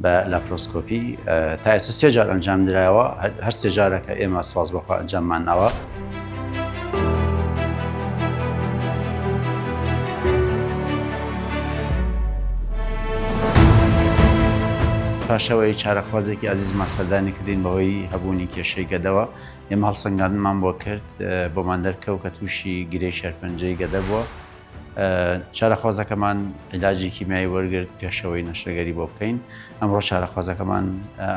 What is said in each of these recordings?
بە لاپرۆسکۆپی تا ئێستا سێ جار ئەنجام درایەوە هەر سێ جارەکە ئێمە سپاس بەخوا ئەنجاممان ناوە. پاشەوەی چارەخوازێکی ئازیزمان سەردانی کردین بەهۆی هەبوونی کێشەی گەدەوە ئێمە هەڵسەنگاندمان بۆ کرد بۆمان دەرکەوت کە تووشی گرێ شەرپەنجەی گەدە بووە چارەخوازەکەمان عیلاجی کیمیایی وەرگرت پێشەوەی نەشتەگەری بۆ بکەین ئەمڕۆ چارەخوازەکەمان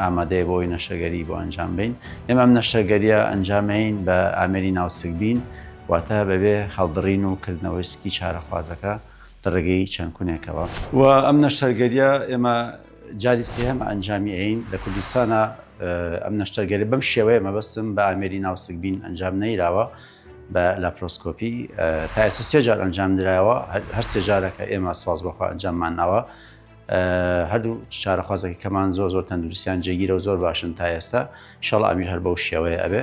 ئامادەیە بۆی نەشتەگەری بۆ ئەنجام بین ئێمە ئەم نەشتەگەریە ئەنجامین بە ئامێری ناوسک بین واتە بەبێ هەڵدڕین و کردنەوەی سکی چارەخوازەکە لە ڕێگەی چەند کونێکەوە و ئەم نەشتەرگەریە ئێمە جاری سێهمە ئەنجامی ئەین لە کوردستانە ئەم نەشتەرگەری بەم شێوەیە مەبەستم بە ئامێری ناوسک بین ئەنجام نەیراوە بە لاپرۆسکۆپی تا ئێستا سێ جار ئەنجام درایەوە هەر سێ جارەکە ئێمە سپاس بەخوا ئەنجاممان ناوە هەردوو چارەخوازەکە کەمان زۆر زۆر تەندروستیان جێگیرە و زۆر باشن تا ئێستا شەڵ ئەمیر هەر بەو شێوەیە ئەبێ.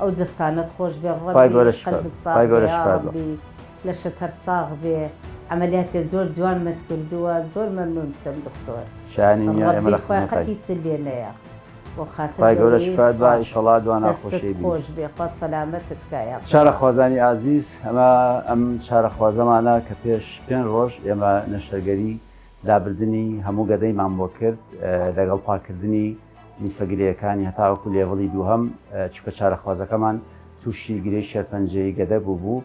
ئەو دەستانەت خۆش بێ ڕەبی لە شت هەر ساغ بێ ئەمەلیاتێ زۆر جوان مت کردووە زۆر مەمنون دەم دکتۆر شانی قەتی چ لێ نەیە بۆ خاتەشڵات دوانە خۆش بێ خوا سەلامەتت کایە چارە خوازانی ئازیز ئەمە ئەم چارە خوازەمانە کە پێش پێن ڕۆژ ئێمە نەشتەرگەری لابردنی هەموو گەدەیمان بۆ کرد لەگەڵ پاکردنی لیفە گرێیەکانی هەتاوەکو لێڤڵی دووهەم، چونکە چارەخوازەکەمان تووشی گرێی شێرپەنجەی گەدە بووبوو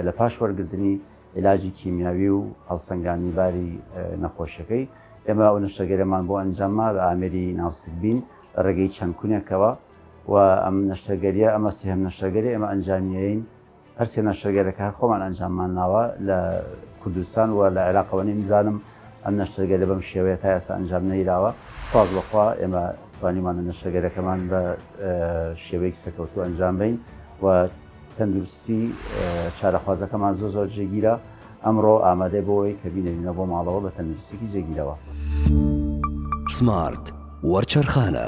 لە پاش وەرگرتنی عیلاجی کیمیاوی و هەڵسەنگاندنی باری نەخۆشیەکەی، ئێمە ئەو نەشتەرگەرەمان بۆ ئەنجامما بە ئامێری ناوسکبین لە ڕێگەی چەند کونێکەوە و ئەم نەشتەرگەریە ئەمە سێهەم نەشتەرگەری ئێمە ئەنجامیەین. هەر سێ نەشتەرگەرەکە هەر خۆمان ئەنجاممان ناوە لە کوردستان و لە عێراقەوە نەیمزانم ئەم نەشتەرگەرە بەم شێوەیە تا ئێستا ئەنجام نەیراوە سواز بەخوا ئێمە توانیمانە نەشتەرگەرەکەمان بە شێوەیەکی سەرکەوتوو ئەنجام بین و تەندروستی چارەخوازەکەمان زۆر زۆر جێگیرە ئەمڕۆ ئامادەی بۆی کە بینەوینە بۆ ماڵەوە بە تەندروستێکی جێگیرەوە سمارت وەرچەرخانە